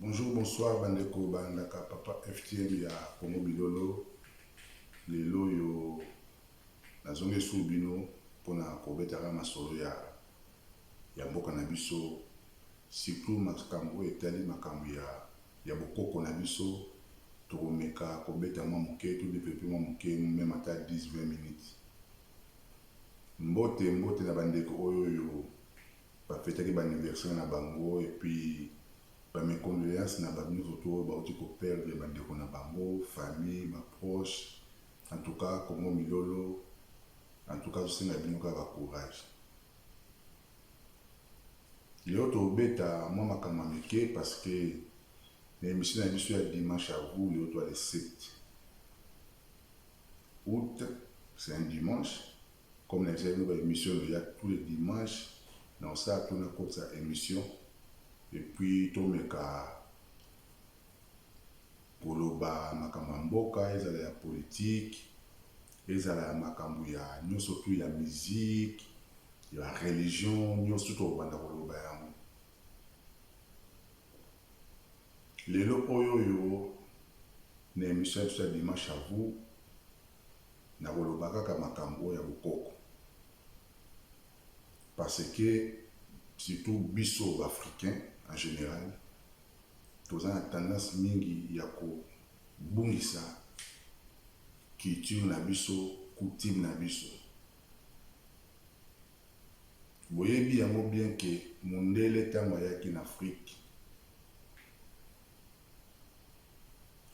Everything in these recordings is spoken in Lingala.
Bonjour, bonsoir bandeko bandaka papa FTM ya Congo Bilolo lelo oyo nazongi esu bino mpona kobetaka masolo ya, ya mboka na biso surtout makambo oyo etali makambo ya, ya bokoko na biso tokomeka kobeta mwa moke to develope mwa moke meme ata 10 20 minutes mbote mbote na bandeko oyo oyo Ba fetaki ba anniversaire na bango et puis ba mes condoleances na batu nionso tout oyo bawuti ko perdre ba ndeko na bango, famille, ba proches en tout cas Congo Milolo en tout cas azo senga bino kaka courage. Lelo toko beta mwa makambo ya mike parce que na emission na biso ya dimanche à vous lelo toa le 7 aout c'est un dimanche Comme na ezali ba emission no ya tous les dimanche na osala to na kotisa emission et puis to meka koloba makambo ya mboka ezala ya politique ezala ya makambo ya nyoso tout ya musique ya religion nyoso to banda koloba yango lelo oyo oyo na emission ya biso ya dimanche à vous nakoloba kaka makambo ya bokoko parce que surtout biso ba africain en general toza na tendance mingi ya kobungisa culture na biso coutume na biso boyebi yango bien ke mundele ntango ayaki na afrique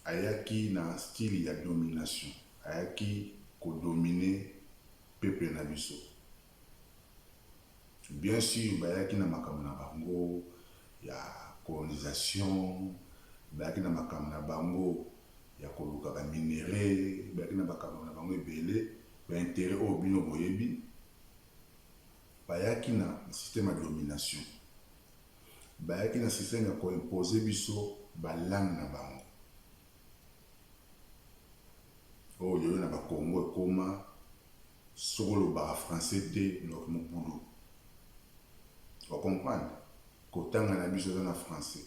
Ayaki na style ya domination, ayaki ko dominer peuple na biso. Bien sur bayaki na makambo na bango ya colonisation, bayaki na makambo na bango ya koluka ba minerais, bayaki na makambo na bango ebele, ba interets oyo bino boyebi. Bayaki na système ya domination. Bayaki na système ya ko imposer biso ba langues na bango. Oyo lelo na ba Congo ekoma soki olobaka français te donc mobulu. O comprendre? Kotanga na biso eza na français.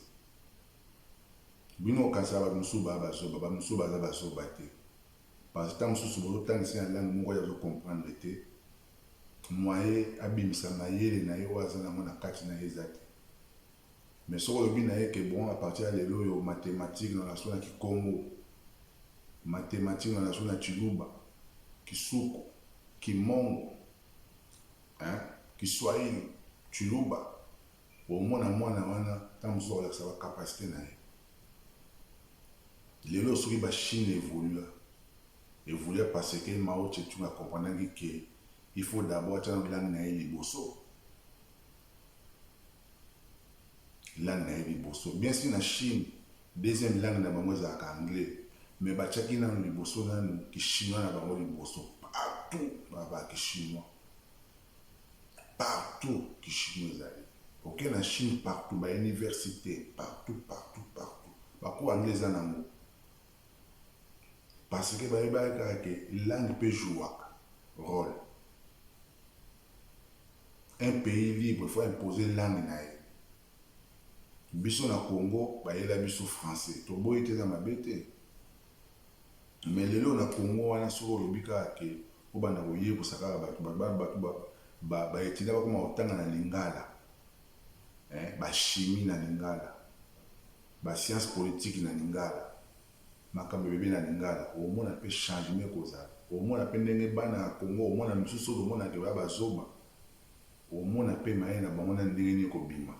Bino bokanisaka bato mosusu baya ba zoba, bato mosusu baza ba zoba te. Parce que tango mosusu bozo tangisa ye na langue moko ye azo comprendre te, moyen abimisa mayele na ye oyo aza nango na kati na ye eza te mais soki olobi na ye que bon à partir ya lelo oyo mathematique na lasu na kikongo mathematique na lasu na tshiluba kisuku kimongo hein kiswahili tshiluba Bomona mwana wana tango mosusu akolakisa ba capacite na ye. Lelo soki ba chine evolua, evolua parce que Mao Tse Tung a comprenaki que il faut d'abord atia nanu langue na ye liboso. Langue na ye liboso. Bien sur na chine, deuxième langue na bango ezalaka anglais. Mais batiaki nanu liboso nanu ki chinois na bango liboso. Partout, balobaka ki chinois. Partout kishimo ezali oke na chine partout ba universite partout partout partout ba cours anglais eza nango parce que bayebaki kaka ke langue pe jouaka role un pays libre faut imposer langue na ye biso na congo bayela biso français toboyi te eza mabe te Mais lelo na Congo wana soki olobi kaka que obanda koyekosa kaka batu batu batu ba ba etudiants bakoma kotanga na lingala eh ba chimie na lingala ba science politique na lingala makambo ebebe na lingala omona pe changement ekozala omona pe ndenge bana ya Congo omona misusu oyo omona ke ba ba zoba omona pe maye na bango na ndenge nini ekobima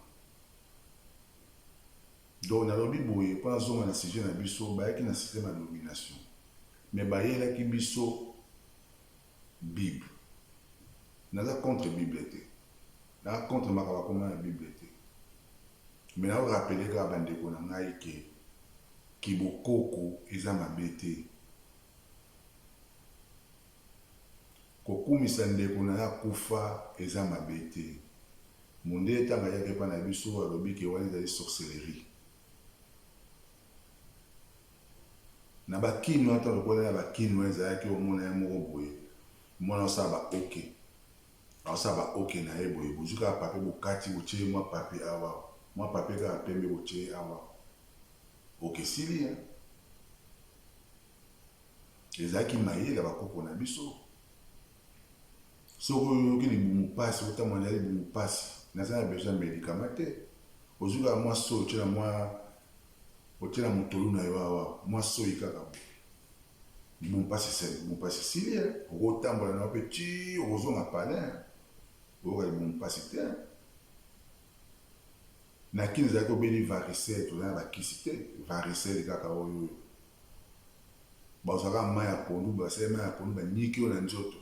Donc nalobi boye po nazonga na sujet na biso, bayaki na système ya domination mais bayelaki biso bible. Naza contre bible te, naza contre makambo akoma na bible te mais nao rappeler kaka ba ndeko na ngai ke ki bokoko eza mabe te. Kokumisa ndeko nayo akufa eza mabe te Mundele tango ayaki epai na biso alobi ke wana ezali sorcellerie. Na ba kin wana tango tokutanaki na ba kin wana ezalaki omona ye moko boye omoni azosala ba ok azosala ba ok na ye boye bozui kaka papier bokati botie ye mua papier awa mua papier kaka pembe botie ye awa ok esili hein. Ezalaki mayele ya ba koko na biso. Soki oyoki libumu pasi otambola na libumu pasi naza na besoin ya medicament te ozui kaka mwa soyi otie na mwa otie na motolu na yo awa mwa soyi kaka boye libumu pasi esali libumu pasi esili ye okotambola na yo mpe ti okozonga palin oyoka libumu pasi te na kini ezalaki obeli varisele toza na bakisi te varisele kaka oyo oyo Bazwa kaka mayi ya pondu, boye basali mayi ya pondu banyiki yo na nzoto,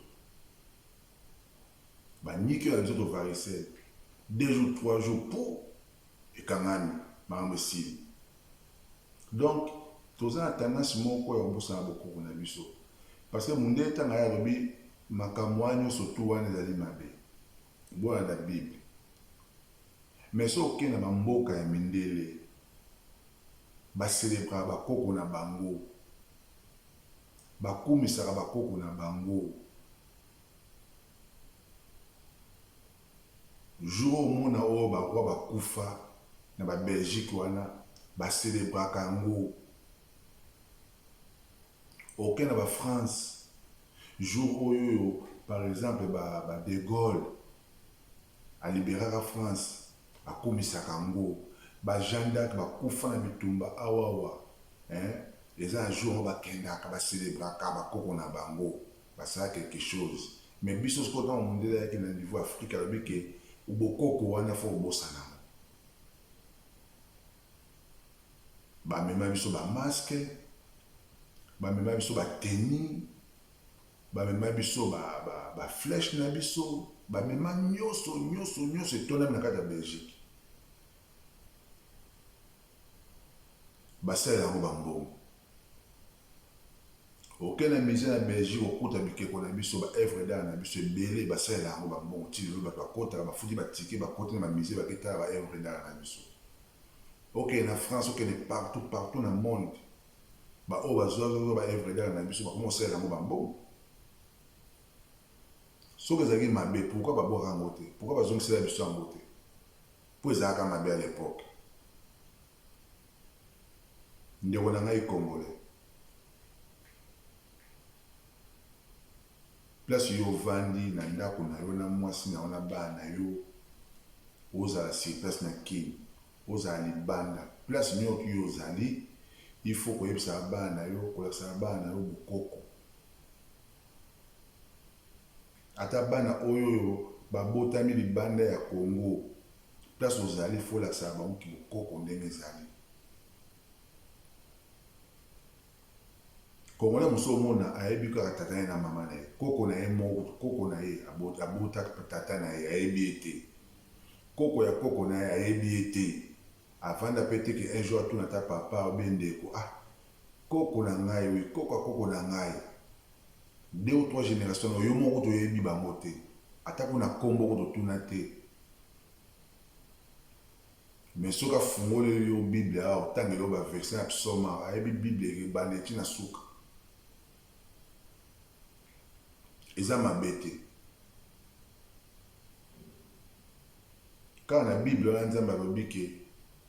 banyiki yo na nzoto varicelle deux jours trois jours puu ekangami makambo esili. Donc toza na tendance moko ya kobosana bokoko na biso parce que mundele tanga ye alobi makambo wana nionso tout wana ezali mabe bolanda bible. Mais soki oke na ba mboka ya mindele ba celebraka ba koko na bango, ba kumisaka ba koko na bango, jour oyo omona oyo ba roi ba kufa na ba Belgique wana ba celebraka yango, oke na ba France jour oyo oyo par exemple ba Degaule, A liberaka France akumisaka ango ba Jeanne d'arc ba kufa na bitumba awa awa eh eza na jour moko ba kendaka ba celebraka ba koko na bango ba sala quelque chose mais biso sikoyo tango mundele ayaki na niveau ya Afrique alobi que bokoko wana faut obosana yango ba mema biso ba masque ba mema biso ba tenue Ba mema biso ba ba ba flèche na biso ba mema nioso nioso nioso etondami na kati ya Belgique ba salela yango ba mbongo oke na musee na Belgique okuta bikeko na biso ba œuvre d'art na biso ebele ba salela yango ba mbongo ti lelo batu bakotaka ba futi ba ticket ba koti na ba musee ba ke tala ba œuvre d'art na biso oke na France oke ne partout partout na monde Ba oyo ba zua nzoto ba œuvres d'art na biso ba koma ko salela yango ba mbongo? Soki ezalaki mabe pourquoi ba bwaka yango te? Pourquoi ba zongisela biso yango te? Po ezalaka mabe à l'epoque. Ndeko na ngai congolais. Place yo ovandi na ndako na yo na mwasi na yo na bana na yo ozala sur place na kin ozala libanda place nioki yo ozali il faut koyebisaka bana na yo kolakisaka bana na yo bokoko ata bana oyo oyo babotami libanda ya Congo place ozali il faut olakisaka bango kibokoko ndenge ezali Congolais mosusu omona ayebi kaka tata ye na mama na ye, koko na ye moko, koko na ye abota tata na ye ayebi ye te, koko ya koko na ye ayebi ye te, avanda pe te ke un jour atuna ata papa ou bien ndeko ah koko na ngai oui, koko ya koko na ngai, deux ou trois generations na yo moko kutu oyebi bango te, ata kuna kombo kutu otuna te. Mais soki afungoleli yo bible awa otangela yo ba verset ya psaume awa ayebi bible ebandeli ti na suka eza mabe te kaka na bible wana nzambe alobi ke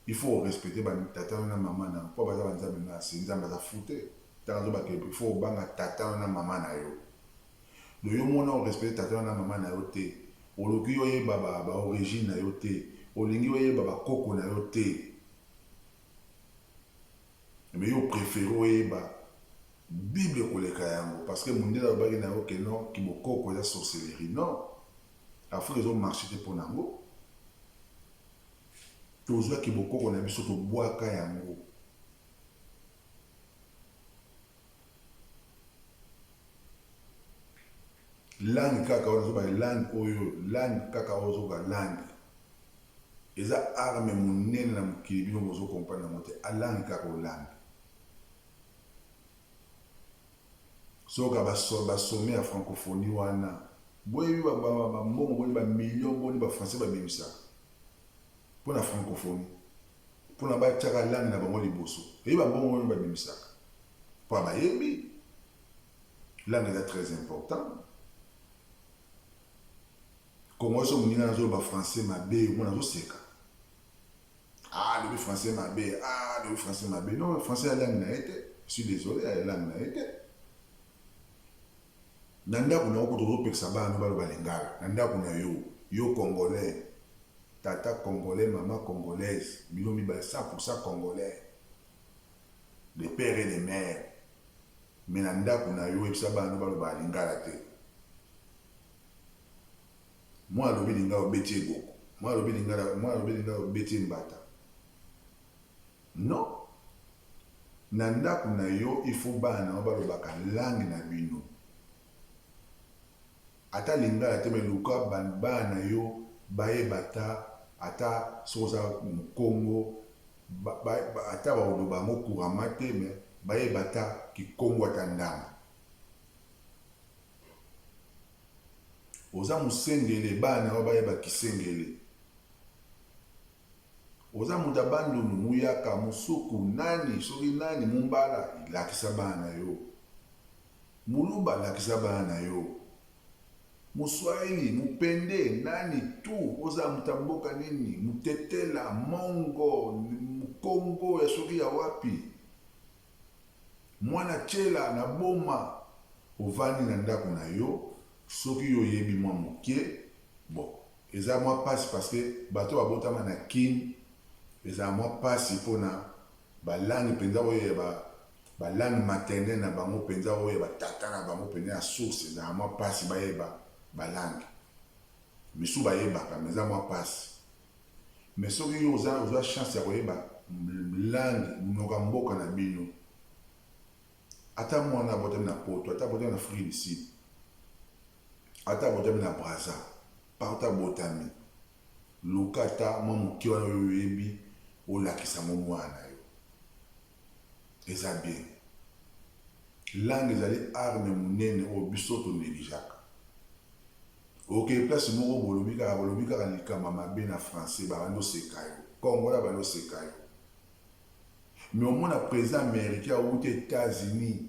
il faut orespecte batata yo na mama na yo mpo baza banzambe na se nzambe aza fute ntango azobaka il faut obanga tata yo na mama na yo Donc yo mona o respecter tata yo na maman na yo te, oluki yo yeba ba ba origine na yo te, olingi yo yeba ba koko na yo te, mais yo o preferer o yeba bible koleka yango parce que mundele alobaki na yo que non ki bokoko eza sorcellerie non Afrique ezo marcher te pona yango tozwa ki bokoko na biso tobwaka yango langue kaka wana zoba langue oyo langue kaka oyo zoba langue eza arme monene na mokili bino bozo comprendre yango te a langue kaka oyo langue soka basome ya francophonie wana boyebi bambongo boni bamillion boni bafrançais babimisaka mpo na francophonie Pona ba tiaka langue na bango liboso pe ba bongo wana ba bimisaka pona ba yebi langue eza très important. Congo so muninga na zolo ba français mabe mona zo seka ah le français mabe ah le français mabe non français ya langue na ye te je suis désolé ya langue na ye te. Na ndaku na yo kutu ozo pekisa bana no baloba lingala na ndaku na yo yo congolais tata congolais maman congolaise bino mibale 100 pour 100 congolais de père et de mère mais na ndaku na yo oyebisa bana no balobaka lingala te mwana alobi lingala obeti ye boko mwana alobi lingala mwana alobi lingala obeti ye mbata Non na ndaku na yo il faut bana na yo balobaka langue na bino ata lingala te mais luka bana na yo bayeba ata ata soki oza mukongo ata bakoloba yango couramment te mais bayeba ata kikongo ata ndambu oza musengele bana na yo bayeba kisengele Oza moto ya bandundu muyaka musuku nani soki nani mumbala lakisa bana na yo muluba lakisa bana na yo muswahili mupende nani tout oza moto ya mboka nini mutetela mongo mukongo ya soki ya wapi mwana tshela na boma ovandi na ndako na yo soki yo oyebi mwa mukie bon. Eza mwa pasi parce que bato oyo babotama na kin ezalaka mwa pasi pona ba langue penza oyo ya ba ba langue maternelle na bango penza oyo ya ba tata na bango penza ya source ezalaka mwa pasi bayeba ba langue misusu bayebaka mais eza mwa pasi mais soki yo oza ozwa chance ya koyeba langue munoko ya mboka na bino Ata muana abotami na poto, ata abotami n'afrique du sud, ata abotami na brazza, partout abotami, luka ata mwa moke wana oyo oyebi olakisa yango muana na yo. Eza bien. Langue ezali arme munene oyo biso to negligeaka. Okeyi place moko bolobi kaka bolobi kaka likambo ya mabe na français babandi oseka yo. Congolais abandi oseka yo. Mais omona president americain awuti etats unis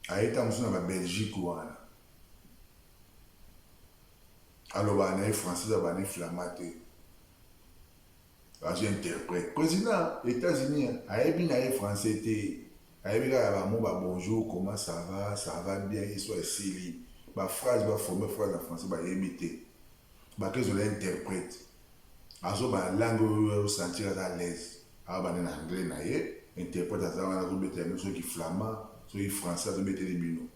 aye tango mosusu na ba belgique wana alobaka na ye français eza bani flamand te azo interprète president etats unis ayebi na ye français te Nayebi kaka ba mots ba bonjour, comment ça va, ça va bien, histoire esili. Ba phrases ba former phrase na français bayebi te. Bake zola interprète. Azo bala langue oyo ye azo sentir aza à l'aise. Azo banda na anglais na ye, interprète aza wana azo betela bino soki ki flamand, soki ki français azo beteli bino.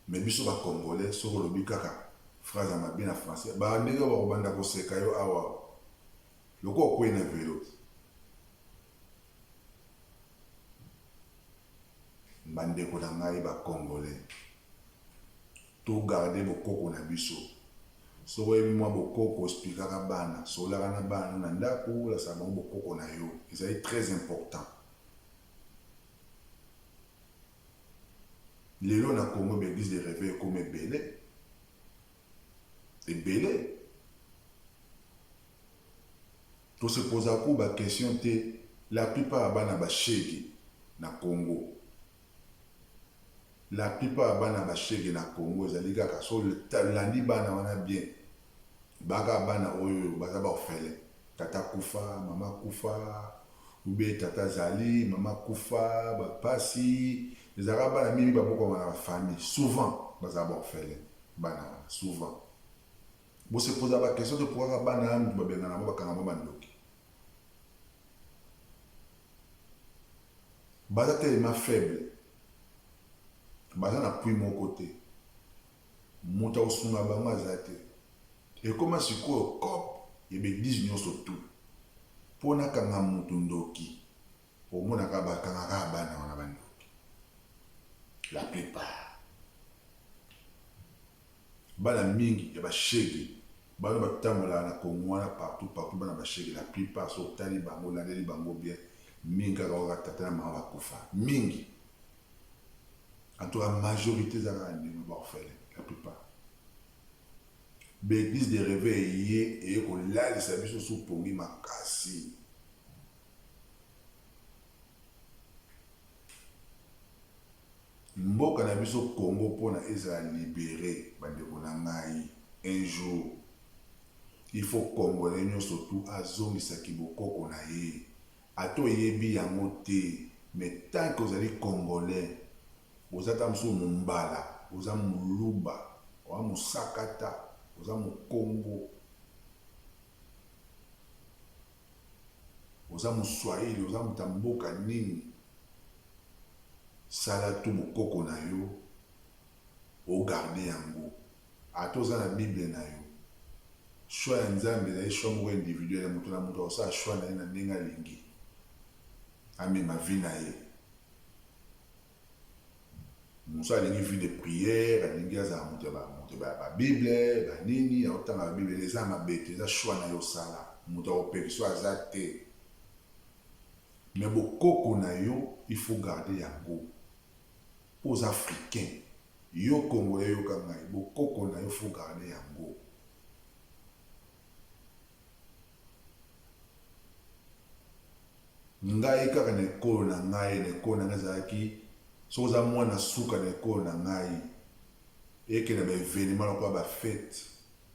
Mais biso ba congolais soki olobi kaka phrase ya mabe na français ba ndenge oyo bako banda ko seka yo awa lokola okweyi na velo. Ba ndeko na ngai ba congolais to garder bokoko na biso soki oyebi mwa bokoko osplikaka bana solaka na bana no na ndako olasaka bango bokoko na yo ezali très important Lelo na Congo ba eglises de reveil ekoma ebele, ebele. To se posa ku ba questions te, la plupart ya bana ba shegue na Congo, la plupart ya bana ba shegue na Congo ezali kaka, soki olandi bana wana bien, Baka bana oyo baza ba orphelin tata akufa maman akufa ou bien tata azali maman akufa ba pasi ezalaka bana mingi babokwama na ba famille souvent bazala ba orphelin bana wana souvent bo se poza ba question te pourquoi bana ya mutu babengana bango bakanga bango ba ndoki baza tellement faible baza na pui moko te Moto ya kosunga bango aza te. Ekoma sikoyo coop ya b'eglise nionso tout. Po na kanga mutu ndoki omona kaka ba kanga kaka bana wana ba ndoki. La plupart. Bana mingi ya ba shegue bana ba tambolaka na congo wana partout partout bana ba shegue la plupart soki otali bango olandeli bango bien mingi kaka oyo kaka tata na mama ba kufa mingi. En tout cas, majorité eza kaka ndenge ba orphelin la plupart. Bêtise de reve eye eye kolalisa biso sous pongi makasi. Mboka na biso Congo mpona ezala libere bandeko na ngai un jour il faut congolais nyonso tu azongisa kibokoko na ye Ata oyebi yango te mais tant que ozali congolais oza ata mosusu mumbala oza muluba oa musakata oza mukongo oza muswahili oza moto ya mboka nini sala tout bokoko na yo o garde yango. Ata oza na bible nayo. Choix ya Nzambe ezali choix moko individuel, moto na moto akosala choix na ye na ndenge alingi amema vie na ye. Mosusu alingi vie de prière, alingi azala moto ya bamoto ya ba bible, ba nini, aotanga ba bible, eza mabe te, eza choix na yo osala, moto akopekisa yo aza te. Mais bokoko na yo il faut garder yango po oza africain. Yo congolais yoka ngai bokoko nayo faut garde yango. Ngai kaka na ekolo na ngai na ekolo na ngai ezalaki soki oza muana suka na ekolo na ngai eke na ba evenement lokola ba fete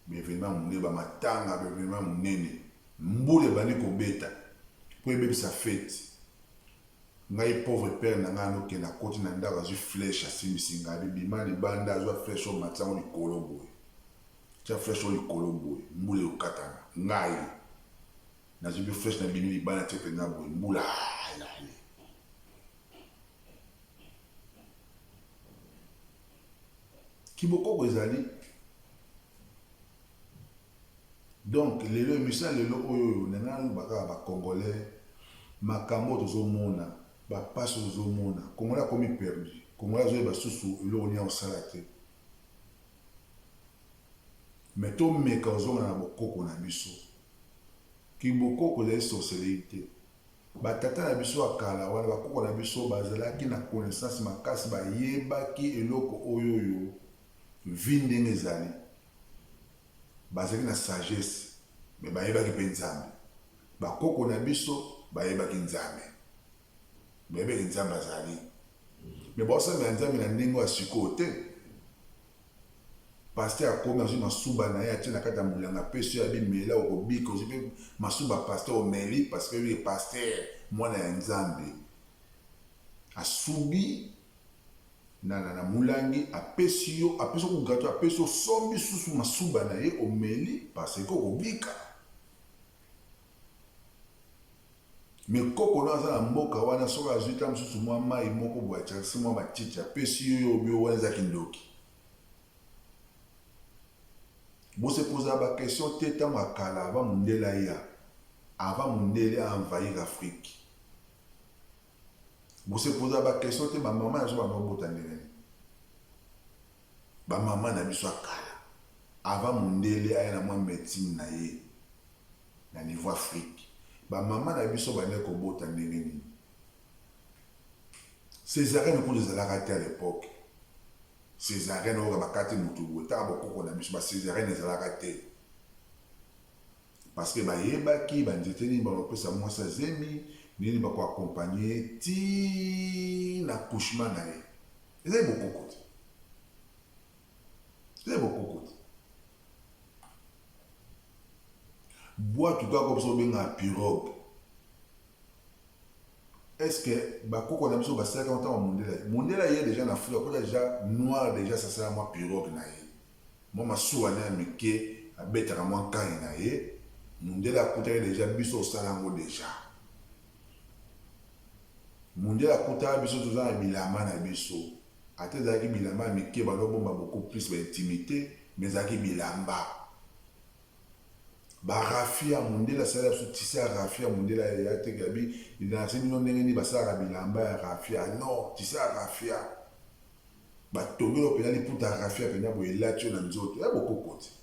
ba evenement ya munene ba matanga ba evenement ya munene mbula ebandi kobeta po ebebisa fete Ngai pauvre père na ngai ano kende akoti na ndaku azui flèche asimbisi ngai abi bima libanda azua flèche oyo matisa ngo likolo boye tia flèche oyo likolo boye mbula ekokatana ngai nazui pe flèche na bimi libanda natie penza boye mbula ayale kibokoko ezali Donc lelo emission ya lelo oyo oyo na nga loba kaka ba congolais makambo tozo mona ba pasi oyo tozo mona congolais akomi perdu congolais azo yeba susu eloko nini ako sala te mais to meka kozonga na bokoko na biso ki bokoko ezali sorcellerie te ba tata na biso ya kala wana ba koko na biso bazalaki na connaissance makasi bayebaki eloko oyo oyo Vie ndenge ezali bazalaki na sagesse mais bayebaki pe nzambe ba koko na biso bayebaki nzambe bayebaki nzambe azali mais baosambela nzambe na ndenge ya sikoyo te paster akomi azwi masuba na ye atie na kati ya molanga peso ya bimela okobika ozwi mpe masuba paster omeli parce que ye paster mwana ya nzambe asubi Nana na mulangi apesi yo apesi yo kugato apesi osombi susu masuba na ye omeli parce que okobika me koko na aza na mboka wana soki azwi ta mosusu mwa mai moko boye atyakisi mwa matiti apesi yo yo obio wana eza kindoki bosepoza baquestion te ntango ya kala ava mondele aya ava mondele a envahir afrique Bo se poser ba question te ba maman ya zoba ba bota ndenge nini? Ba maman na biso ya kala avant mundele aya na mwa medecine na ye na niveau Afrique ba maman na biso bande ko bota ndenge nini? Cesarienne kutu ezalaka te à l'epoque. Cesarienne oyo bakati mutu boye ta ba koko na biso ba cesarienne ezalaka te. Parce que bayebaki ba nzete nini bako pesa mwasi ya zemi, nini bako accompagner ye ti na accouchement na ye. Ezali bokoko te. Ezali bokoko te. Bwatu kaka oyo biso benga pirogue. Est-ce que bakoko na biso basalaki yango ntango mondele aye? Mondele aye deja na Afrika, akota deja noir deja asala mwa pirogue na ye. Mwa masuwa naye ya mike abetaka mwa nkanyi na ye, mundele akutaki dejà biso osala yango dejà. Mundele akutaka biso toza na bilamba na biso, ata ezalaki bilamba ya mike bazo bomba beaucoup plus ba intimite mais ezalaki bilamba. Ba raffia mundele asalaki biso tisse ya raffia mundele atekela bi nase bino ndenge nini basalaka bilamba ya raffia non tisse ya raffia. Ba tongela yo pena liputa raffia pena boye elati yo na nzoto ya bokokoti.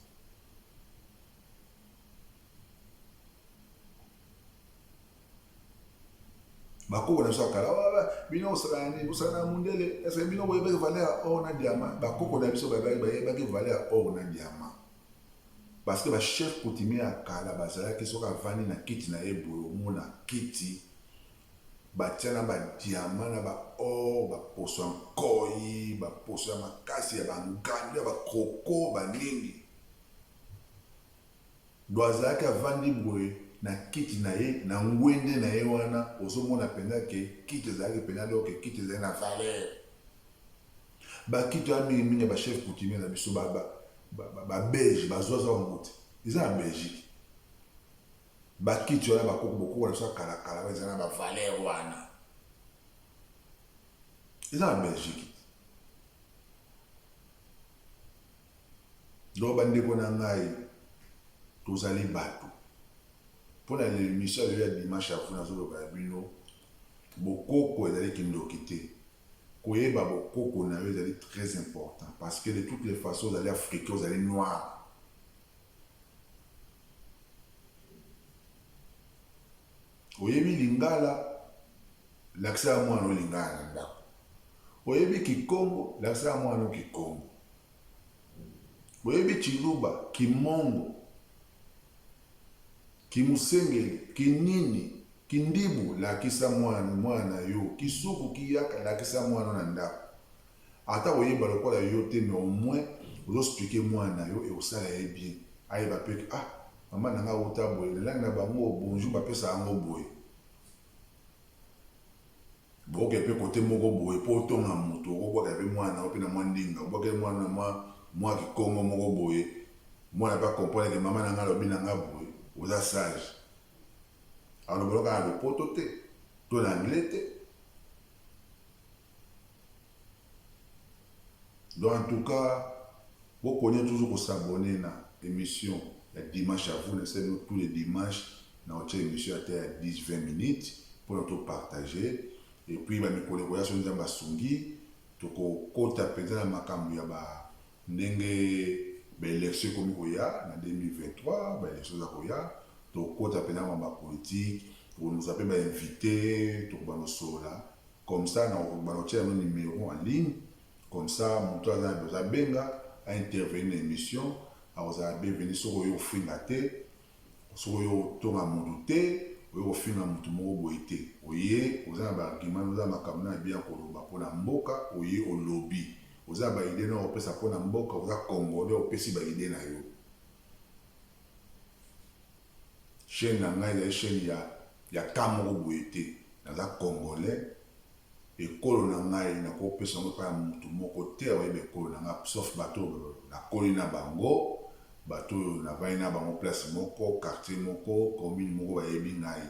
bakoko na biso ya kala bino osala na nini osala na mundele ese bino boyebaki valeur ya or na diamant bakoko na biso bayebaki valeur ya or na diamant parce que bachef coutumier ya kala bazalaki soki avandi na kiti na ye boye omona kiti Batia na ba diamants, na ba or, ba poso ya nkoyi, ba poso ya makasi, ya ba ngando, ya ba croko, ba nini. Donc azalaki avandi boye na kiti na ye, na ngwende na ye wana, ozo mona penza ke kiti ezalaki penza alors ke kiti ezali na valeur. Ba kiti wana mingi mingi ya ba chefs coutumiers na biso, ba belges, ba zwa zwa yango te. Eza na Belgique. Ba kiti wana ba koko bokoko na biso ya kala kala wana eza na ba valeur wana eza na Belgique donc ba ndeko na ngai tozali bato mpo na emission ya lelo ya dimanche ya vuna azoloba ya bino bokoko ezali kindoki te koyeba bokoko na yo ezali très important parce que de toutes les façons ozali africain ozali noir Oyebi lingala, lakisa ya mwana olingala na ndako. Oyebi kikongo, lakisa ya mwana kikongo. Oyebi kiluba, kimongo, kimusengeli, kinini, kindibu, lakisa mwana mwana yo. Kisuku kiyaka, lakisa mwana na ndako. Ata oyeba lokola yo te mais au moins ozo expliquer muana na yo ekosala ye bien ayeba pe que ah maman na ngai awuta boye na langue na bango bonjour ba pesaka yango boye. Boke pe cote moko boye po otonga mutu oko buakela pe muana na yo pe na mua ndinga obuakeli muana na mua mua kikongo moko boye muana pe a comprendre que maman na ngai alobi na ngai boye oza sage. Aloba loka na lopoto te to na anglais te. Donc en tout cas bo konia toujours ko s'abonner na emission ya dimanche à vous na esali bino tous les dimanches na otia emission ata ya 10 20 minutes pona to partager et puis ba mikolo ekoya soki nzambe asungi toko kota penza na makambo ya ba ndenge ba election ekomi koya na 2023 ba election za koya tokokota penza na ba politique tokonusa pe ba invite tokobanda kosolola Comme ça na bako tia no numero en ligne comme ça mutu aza na besoin abenga a intervenir na emission ako zala bienvenue soki oye kofinga te soki oye kotonga mutu te oye kofinga mutu moko boye te oye oza na ba argument oza na makambo nayo ya bien koloba pona mboka oye olobi oza na ba idee nayo kopesa pona mboka oza congolais opesi ba idee nayo. Chaine na nga ezali chaine ya ya cas moko boye te naza congolais ekolo na ngai nako pesa yango epai ya mutu moko te ako yeba ekolo na nga sauf batu oyo na koli na bango batu oyo na vandi na bango place moko quartier moko commune moko ba yebi ngai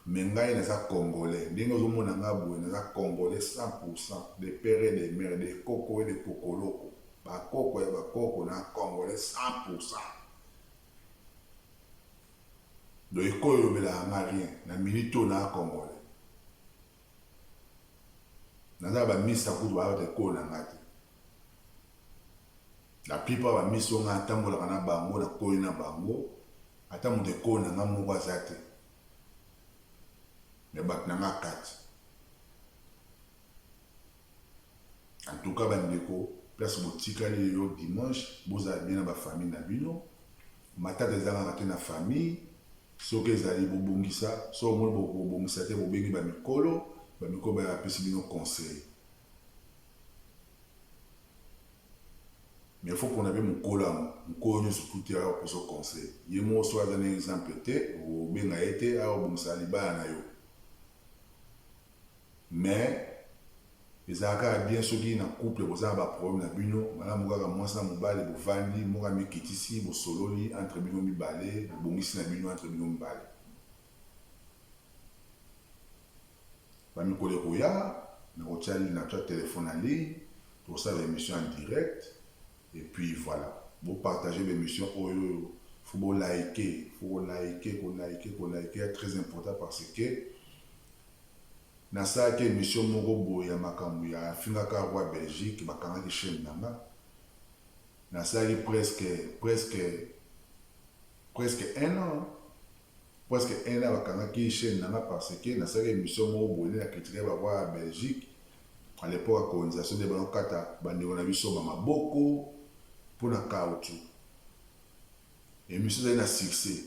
mais ngai naza congolais ndenge ozo mona nga boye naza congolais 100 pour 100 de père et de mère de koko et de kokoloko ba koko ya ba koko na congolais 100 pour 100 Donc eko elobelaka nga rien na minute oyo naza congolais naza na ba mista kutu baza batu ya ekolo na nga te la plupart ba mista oyo nga na tambolaka na bango na koli na bango ata mutu ekolo na nga moko aza te me batu na nga kati En tout cas ba ndeko place botikali lelo dimanche bozala bien na ba famille na bino matata ezangaka te na famille soki ezali bobongisa soki omoni bobongisa te bobengi ba mikolo ba mikolo ba apesi bino conseil mais faut pona pe mokolo yango mokolo nyonso tuti awa kozo conseil ye moko soki aza na exemple te obenga ye te awa obongisa libala na yo Mais ezalaka kaka bien soki na couple boza na ba problème na bino malamu kaka muasi na mobali bovandi moko amikitisi bosololi entre bino mibale bobongisi na bino entre bino mibale. Ba mikolo ekoya nakotia natia telephone na ligne tokosala ba emission en direct et puis voilà bo partager ba emission oyo faut bo like faut ko like ko like ko like très important parce que Nasalaki emission moko boye ya makambo ya afingaka roi Belgique bakangaki chaine na nga nasalaki presque presque presque un an presque un an bakangaki chaine na nga parce que nasalaki emission moko boye nde na critiquaki ba roi ya Belgique à l'epoque ya colonisation nde banakata bandeko na biso ba maboko mpo na caoutchouc emission ezali na succès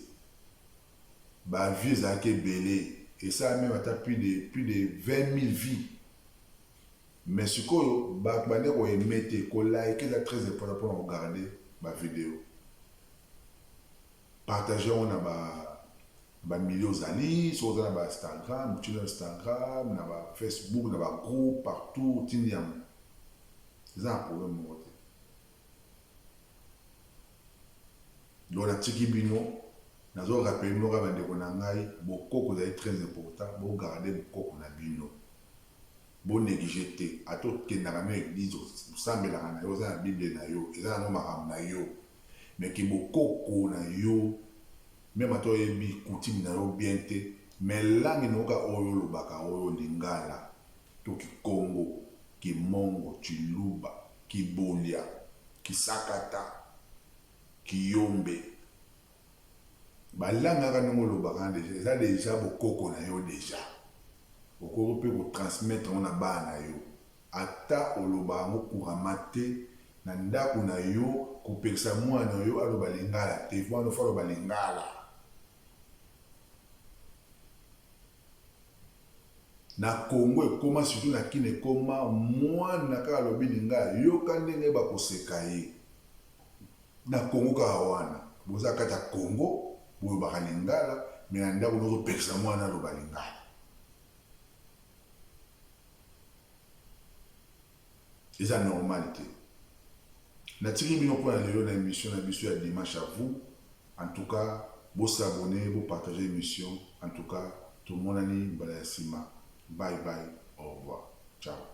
ba vie ezalaki ebele esala meme ata plus de plus de 20000 vie mais sikoyo batu bande ko aime te ko like eza très important pona ko garde ba video partage yango na ba na ba milieu ozali soki oza na ba instagram otindi na instagram na ba facebook na ba groupe partout otindi yango eza na problème moko te Donc natiki bino, nazo rappeler bino kaka bandeko na ngai, bokoko ezali très important, bo garder bokoko na bino, bo negliger te, ata okendaka na yo eglise, osambelaka na yo, oza na bible na yo, eza nango makambo na yo, mais que bokoko na yo, meme ata oyebi coutume na yo bien te, mais langue na yo kaka oyo olobaka oyo, lingala, to kikongo, kimongo, tshiluba, Kibolya, kisakata, kiyombe ba langue kaka ndenge olobaka wana dejà eza dejà bokoko na yo dejà okoki pe ko transmettre yango na bana na yo ata olobaka yango couramment te na ndaku na yo kopekisa muana na yo aloba lingala te muana na yo faut aloba lingala. Na Congo ekoma surtout na kin ekoma mwana kaka alobi lingala yoka ndenge bako seka ye na Congo kaka wana boza kati ya Congo bolobaka lingala mais na ndaku bozo pekisa mwana aloba lingala. Eza normal te. Natiki bino pona lelo na emission na biso ya dimanche à vous en tout cas bo s'abonner bo partager emission en tout cas tomonani mbala ya sima bye bye au revoir ciao.